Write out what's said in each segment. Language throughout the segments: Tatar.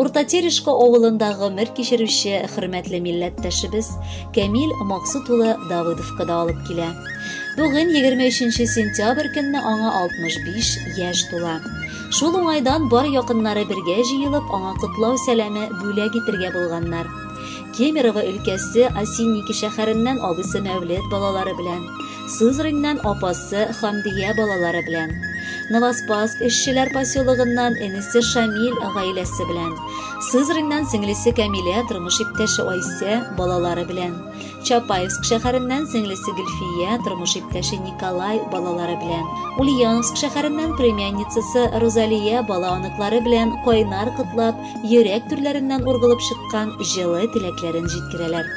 Урта Терешка авылында гомер кичерүче хөрмәтле милләттәшебез Камил Максут улы Давыдовка да алып килә. Бүген 23 сентябрь көнне аңа 65 яшь тула. Шул уңайдан бар якыннары бергә җыелып аңа котлау сәламе бүләк итергә булганнар. Кемерово өлкәсе Осинники шәһәреннән абысы Мәүлет балалары белән Сызраньнан апасы Хамдия балалары белән, Новоспаск эшчеләр поселогыннан энесе Шамил гаиләсе белән, Сызраньнан сеңлесе Камилә, тормыш иптәше Айсә балалары белән, Чапаевск шәһәреннән сеңлесе Гөлфия, тормыш иптәше Николай балалары белән, Ульяновск шәһәреннән племянницасы Розалия бала-оныклары белән кайнар котлап, йөрәк түрләреннән ургылып чыккан җылы теләкләрен җиткерәләр.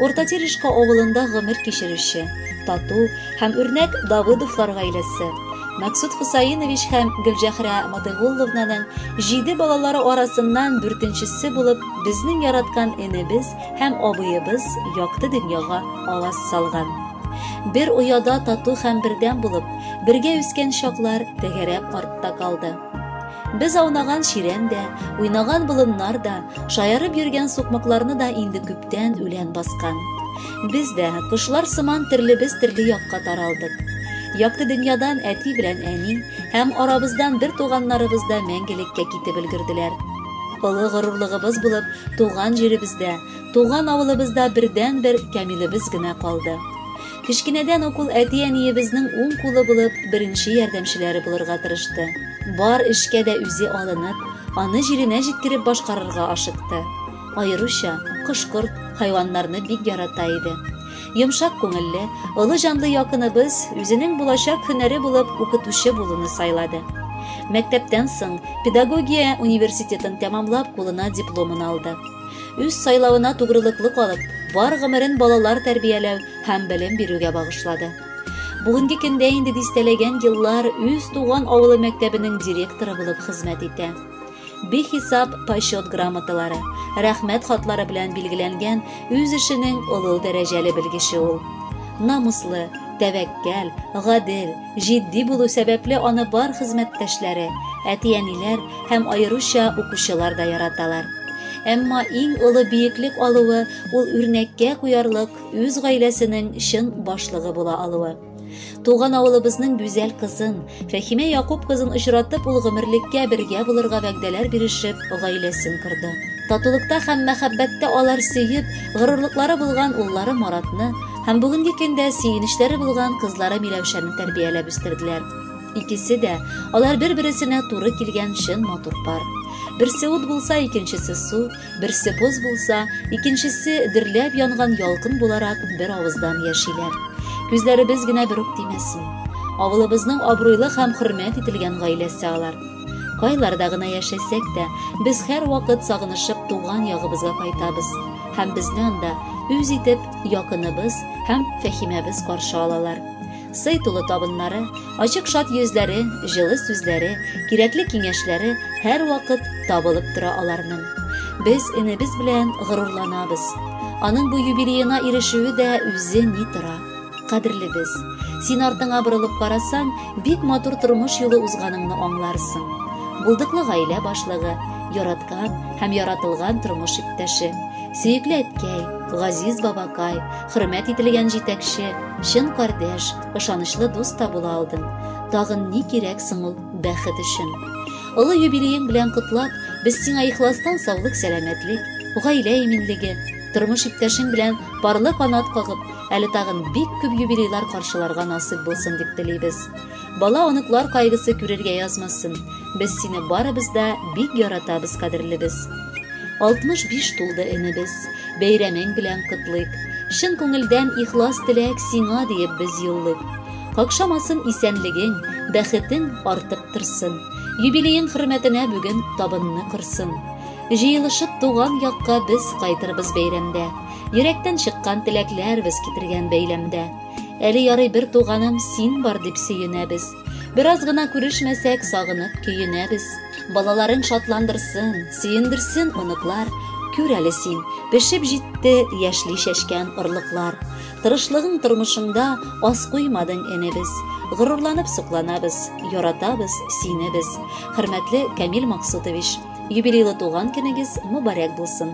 Урта Терешка авылында гомер кичерүче, тату һәм үрнәк Давыдовлар гаиләсе, Мәксүт Хосаинович һәм Гөлҗәхрә Матыйгулловнаның җиде балалары арасыннан дүртенчесе булып безнең яраткан энебез һәм абыебыз якты дөньяга аваз салган. Бер ояда тату һәм бердәм булып, бергә үскән чаклар тәгәрәп артта калды. Без аунаган чирәм дә, уйнаган болыннар да, шаярып йөргән сукмакларны да инде күптән үлән баскан. Без дә, кошлар сыман төрлебез төрле якка таралдык. Якты дөньядан әти белән әни һәм арабыздан бер туганнарыбыз да мәңгелеккә китеп өлгерделәр. Олы горурлыгыбыз булып, туган җиребездә, туган авылыбызда бердән-бер Камилебез генә калды. Кечкенәдән ук ул әти-әниебезнең уң кулы булып, беренче ярдәмчеләре булырга тырышты. Бар эшкә дә үзе алынып, аны җиренә җиткереп башкарырга ашыкты. Аеруча кош-корт, хайваннарны бик ярата иде. Йомшак күңелле, олы җанлы якыныбыз үзенең булачак һөнәре булып укытучы булуны сайлады. Мәктәптән соң педагогия университетын тәмамлап, кулына дипломын алды. Үз сайлавына тугрылыклы калып, бар гомерен балалар тәрбияләү һәм белем бирүгә багышлады. Бүгенге көндә инде дистәләгән еллар үз туган авылы мәктәбенең директоры булып хезмәт итә. Бихисап почет грамоталары, рәхмәт хатлары белән билгеләнгән үз эшенең олы дәрәҗәле белгече ул. Намуслы, тәвәккәл, гадел, Җитди булу сәбәпле аны бар хезмәттәшләре, әти-әниләр һәм аеруча укучылар да яраталар. Әмма иң олы биеклек алуы ул үрнәккә куярлык үз гаиләсенең чын башлыгы була алуы. Туган авылыбызның гүзәл кызын, Фәхимә Якуб кызын очратып, ул гомерлеккә бергә булырга вәгъдәләр бирешеп, гаиләсен корды. Татулыкта һәм мәхәббәттә алар сөеп, горурлыклары булган уллары Маратны, Һәм бүгенге көндә сөенечләре булган кызлары Миләүшәне тәрбияләп үстерделәр. Икесе дә алар бер-бересенә туры килгән чын матур пар. Берсе ут булса, икенчесе су, берсе боз булса, икенчесе дөрләп янган ялкын буларак бер авыздан яшиләр. Күзләребез генә бер үк тимәсен. Авылыбызның абруйлы һәм хөрмәт ителгән гаиләсе алар. Кайларда гына яшәсәк тә, без һәрвакыт сагынышып туган ягыбызга кайтабыз. һәм безне анда үз итеп якыныбыз һәм Фәхимәбез каршы алалар. Сый тулы табыннары, ачык шат йөзләре, җылы сүзләре, кирәкле киңәшләре һәрвакыт табылып тора аларның. Без энебез белән горурланабыз. Аның бу юбилеена ирешүе дә үзе ни тора. кадерлебез. Син артыңа борылып карасаң, бик матур тормыш юлы узганыңны аңларсың. Булдыклы гаилә башлыгы, яраткан һәм яратылган тормыш иптәше, сөекле әткәй, газиз бабакай, хөрмәт ителгән җитәкче, чын кардәш, ышанычлы дус та була алдың. Тагын ни кирәк соң ул бәхет өчен? Олы юбилеең белән котлап, без сиңа ихластан саулык-сәламәтлек, гаилә иминлеге, тормыш иптәшең белән парлы канат кагып, Әле тагын бик күп юбилейлар каршыларга насыйп булсын дип телибез. Бала оныклар кайгысы күрергә язмасын. Без сине барыбыз да бик яратабыз, кадерлебез. 65 тулды энебез. Бәйрәмең белән котлыйк. Чын күңелдән ихлас теләк сиңа диеп без юллыйк. Какшамасын исәнлегең, бәхетең артып торсын. Юбилеең хөрмәтенә бүген табынны корсын. Җыелышып туган якка без кайтырбыз бәйрәмдә. Йөрәктән чыккан теләкләр без китергән бәйләмдә. Әле ярый бер туганым син бар дип сөенәбез. Бераз гына күрешмәсәк, сагынып көенәбез. Балаларың шатландырсын, сөендерсен оныклар. Күр әле син, пешеп җитте яшьли чәчкән орлыклар. Тырышлыгың тормышыңда аз куймадың эне без. Горурланып сокланабыз, яратабыз сине без. Хөрмәтле Камил Максутович, юбилейлы туган көнегез мөбарәк булсын.